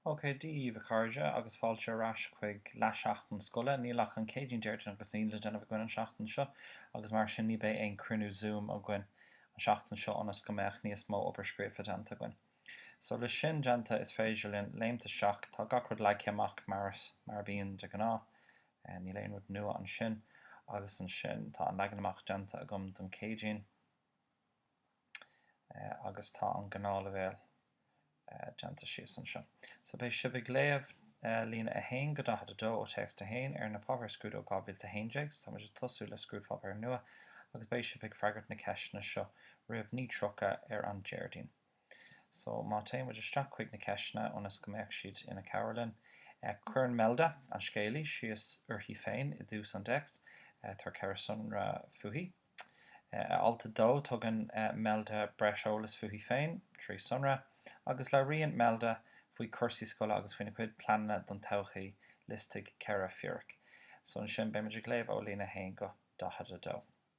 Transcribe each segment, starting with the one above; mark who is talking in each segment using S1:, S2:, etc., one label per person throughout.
S1: OK, Dia daoibh, a chairde, agus fáilte ar ais chuig leath-sheachtain scoile. Níl ach an Céadaoin, Déardaoin agus Aoine le déanamh againn an seachtain seo, agus mar sin ní beidh aon cruinniú Zoom againn an seachtain seo ionas go mbeadh níos mó obair scríofa déanta againn. So, le sin déanta, is féidir linn léimt isteach. Tá gach rud leagtha amach mar a bhíonn de ghnáth. Níl aon rud nua ansin. Agus ansin, tá an leagan amach déanta agam don Céadaoin. agus tá an gnáthleibhéal déanta síos anseo. So beidh sibh ag léamh líne 1-42 ó téacs 1 ar na Páipéir Scrúdú 2011, so tá muid ag tosú le scrúdpháipéar nua, agus beidh sibh ag freagairt na ceisteanna seo roimh 9:30 ar an Déardaoin. So, má théann muid isteach chuig na ceisteanna ionas go mbeadh siad ina cabhair dúinn. Cuireann Melda, an scéalaí, síos uirthi féin i dtús an téacs. Tabhair ceithre sonra fúithi. I alt a dó, tugann Melda breis eolas fúithi féin, trí sonra, agus labhraíonn Melda faoi chúrsaí scoile agus faoina cuid pleananna don todhchaí. Liostaigh ceithre fíric. So, ansin, beidh muid ag léamh ó líne 1 go 42.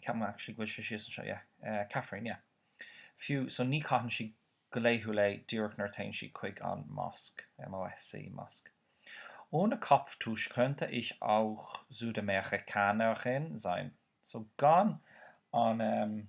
S1: Ceapaim go actually go bhfuil sé síos anseo, yeah. caifirín, yeah. Fiú, so ní caitheann sí go laethúil é díreach nuair a téann sí chuig an mosc, M-O-S-C, mosque. Ohne Kopftuch könnte ich auch Südamerikanerin sein. So gan an, ehm.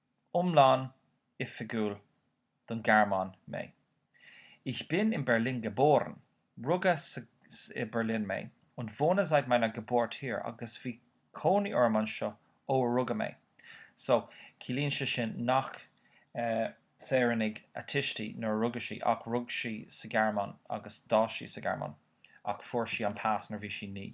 S1: iomlán oifigiúil don Ghearmáin mé. Ich bin in Berlin geboren, rugadh i Berlin mé, und wohne seit meiner Geburt hier, agus bhí cónaí orm anseo ó a rugadh mé. So, ciallaíonn sé sin nach saoranaigh a tuistí nuair a rugadh sí, ach rug sí sa Ghearmáin agus d'fhás sí sa Ghearmáin, ach fuair sí an pas nuair bhí sí naoi.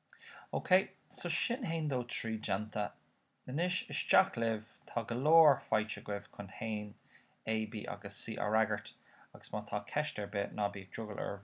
S1: OK, so sin haon dó trí déanta. Anois, isteach libh, tá go leor faighte agaibh chun haon A, B agus C á fhreagairt agus má tá ceist ar bith, ná bíodh drogall oraibh,